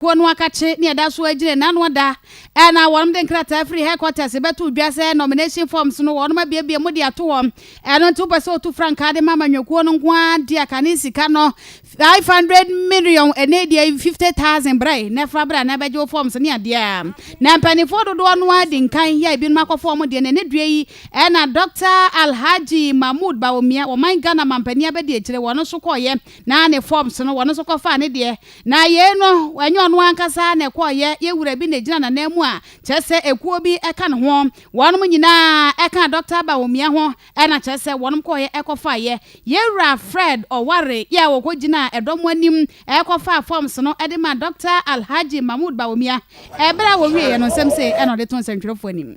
kuo no akakye nea ɛda so agyina nna no da a na wɔn de nkrataa firi headquarters bɛto dwa sɛ nomination forms no wɔn abiebie mu de ato hɔ ɛno nti wopɛ sɛ otu frankaa de ma amanyɔkuo no nko ara deɛ kane sika no 500 million ɛne deɛ 50,000 brɛ na ɛfra brɛ na ɛbɛgye wo forms ne adeɛ a na mpanimfoɔ dodoɔ no ara di nkan yɛ ebinom akɔfo wɔn deɛ na ɛne dua yi ɛna Dr. Alhaji Mahmood Bawumia wɔman Ghana mampanin abɛdi akyire wɔn nso kɔɔyɛ na ne forms no wɔn nso kɔfaa ne deɛ Na yei no, ɛnyɛ ɔno ankasa ara na ɛkɔeɛ, yɛn wura bi na ɛgyina n'ananmu a kyerɛ sɛ ekuo bi ka ne ho. Wɔnom nyinaa kaa Dɔkta Bawumia ho na kyerɛ sɛ wɔnom kɔeɛ kɔfaeɛ. Yɛn wura Fred Oware yɛ a ɔkɔgyinaa dɔm anim kɔfaa forms no de maa Dɔkta Alhaji Mahmood Bawumia. Berɛ a wɔwieeɛ no, nsɛm sei na ɔde too nsɛntwerɛfoɔ anim.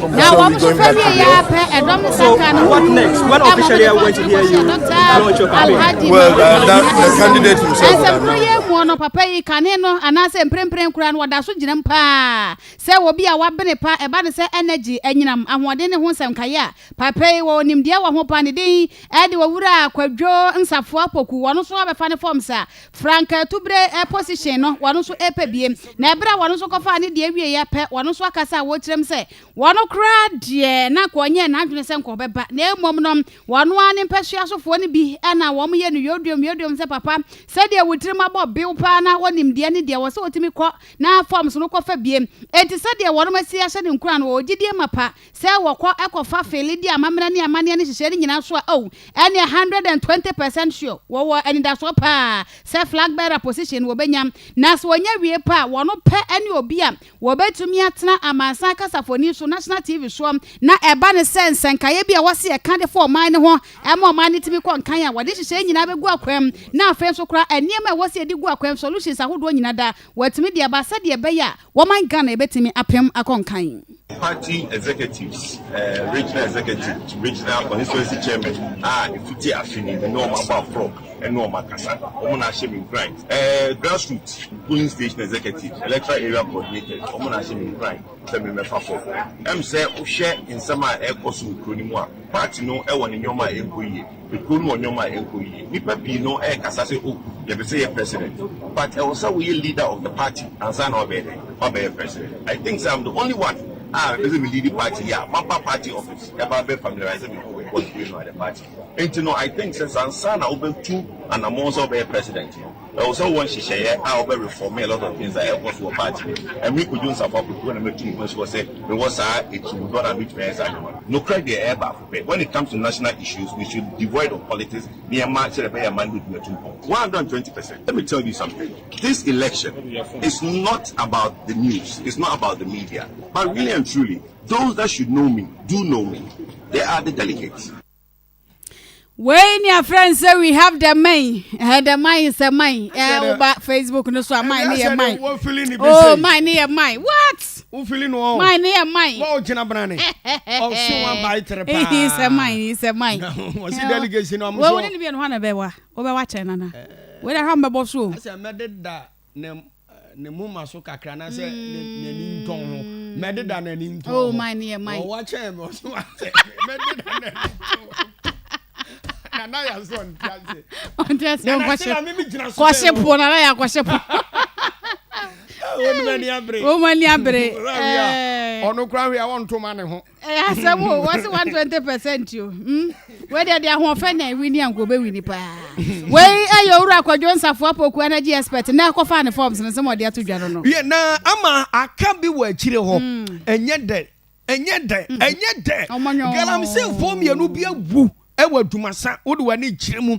Na wɔn nso ka wie yɛ apɛ ɛdɔm no kakra no ho dum ɛmu de kɔhyɛ dɔkta alhaji ɛsɛmkoro yɛ mu no papa yi kane no anaasɛ mprempren koraa no wɔda so gyinam paa sɛ obi a wabene pa ɛba ne sɛ energy anyinam ahoɔden ne ho nsɛm kaeɛ a papa yi wɔ onimdeɛ wɔ ho pa ne din ɛde owura kwadwo nsafoa poku wɔn nso abɛfa ne fam sa Frank Atubere position no wɔn nso repɛ bie na ɛberɛ a wɔn nso kɔfaa ne deɛ wieɛ pɛ wɔn nso akasa a wɔrekyerɛ mu sɛ wɔn koraa deɛ na nka wɔnyɛɛ n'adwene sɛ nka wɔbɛba na mmom no wɔn ara ne mpasua sofoɔ no bi na wɔyɛ no yoduom yoduom sɛ papa sɛdeɛ wo tirim abɔ bew paa na wonim deɛ ne deɛ wɔ sɛ wotumi kɔ na forms no kɔfa bie enti sɛdeɛ wɔn asi ahyɛ no nkuran no wɔwɔ gyidie mapa Sɛ wɔkɔ kɔfa fele di amammerɛ ne amanneɛ no nhyehyɛe no nyinaa so a, oh, ɛnneɛ one hundred and twenty percent sure, wɔwɔ anidasoɔ pa ara sɛ flag bearer position no wɔbɛnya. Na sɛ wɔnya wie pɛ a, wɔn pɛ ne obi a wɔbɛtumi atena amansan kasafoni so, national TV soɔ. Na ɛba no sɛ nsɛnkaeɛ bi a wɔse ɛka de fa ɔman no ho ma ɔman no tumi kɔ nkan a, wɔde nhyehyɛe nyinaa bɛgu akwan mu. Na afei nso koraa, nneɛma a ɛwɔ sɛ yɛde gu akwan mu, solutions ahodoɔ nyinaa daa, wɔatumi de aba sɛdeɛ ɛbɛyɛ a Wɔman Ghana ebetumi apem akɔ nkan. Party executives, regional executive to regional constituency chairman a efiti afe ni ne wɔn abɔ aprɔ ne wɔn akasa, wɔn na ahyɛ me nkuran. Grassroot polling station executives, electoral area coordinators, wɔn na ahyɛ me nkuran sɛ me mmɛfa fam. Ɛm sɛ wo hwɛ nsɛm a ɛrekɔ so wɔ kuro no mu a, party no wɔ ne nneɛma a ɛnkɔ yie. Ekurow no wɔ nneɛma a ɛnkɔ yie. Nnipa pii no ɛɛkasa sɛ oh yɛpɛ sɛ yɛ president but ɛwɔ sɛ woyɛ leader of the party ansa na wabɛyɛ dɛn? Wabɛyɛ president. I think sɛ I'm the only one a mepɛ sɛ me leadi party yi a maba party office ɛba abɛ familiarise me ho with what's going on at the party. Nti no I think sɛ ansa na wobɛtu anamɔn sɛ wobɛyɛ president no ɛwɔ sɛ wowɔ nhyehyɛeɛ a wobɛ reforme a lot of things a ɛɛkɔ so wɔ party no mu. Ɛme Kojo Nsafo Apoku na matu me ho asi hɔ sɛ mewɔ saa ɛtirimu dɔ no a mɛtumi ayɛ saa nneɛma no. Nokorɛ deɛ ɛyɛ baako. Hwɛ, when it comes to national issues, we should devoid of politics na yɛmma sɛdeɛ ɛbɛyɛ a man no bɛtumi atu mpɔn. One hundred and twenty percent. Let me tell you something, this election is not about the news, it's not about the media, but really and truly, those that should know me do know me, they are the delegates. wei ni afrɛ n sɛ we have the main eh, the main sɛ main eh, woba facebook no so a main ne yɛ main o main ne yɛ main what Wofili no ɔ. Mine ne yɛ mine. Wɔ o gyina bena ne. Ɔse wa bae tere paa. Ehi sɛ mine ehi sɛ mine. Na ɔse delegate no ɔmo so. Wɔ wone ne mienu hɔ na bɛ wa. Wɔ bɛ wa kyɛn nana. Wɔ de ha mbɛ bɔ so o. Asɛ mɛ de da ne ne moma so kakra na sɛ ne ne ni ntɔn ho. Mɛ de da ne ni ntɔn ho. Oh mine ne yɛ mine. Wɔ wa kyɛn mɛ ɔse wa sɛ mɛ de da ne ni ntɔn ho. nana yà sọ ntí ase. ntí ase nkɔhyɛ nana sẹ na mímí gyina so. kɔhyɛ po nana yà kɔhyɛ po. wọn mu ani abere. wọn mu ani abere. ɔno kura hwɛ a wɔn to ma ne ho. ɛyà asɛm o wọ́n si one twenty percent o wọ́n di ɛdi ahoɔfɛ na ewi ni anko bɛ wi ni paa. wei ɛyɛ owurɔ akɔdwo nsafo apoku energy expert na ɛkɔ fa ne forms ne sɛ mo ɔde ato dwa no no. yɛ na ama aka bi wɔ akyire hɔ ɛnyɛ dɛ. ɛnyɛ dɛ mm. ɛnyɛ dɛ galamseyfoɔ mmienu bi awu ɛwɔ adwumasa wode w'ani kyerɛ mu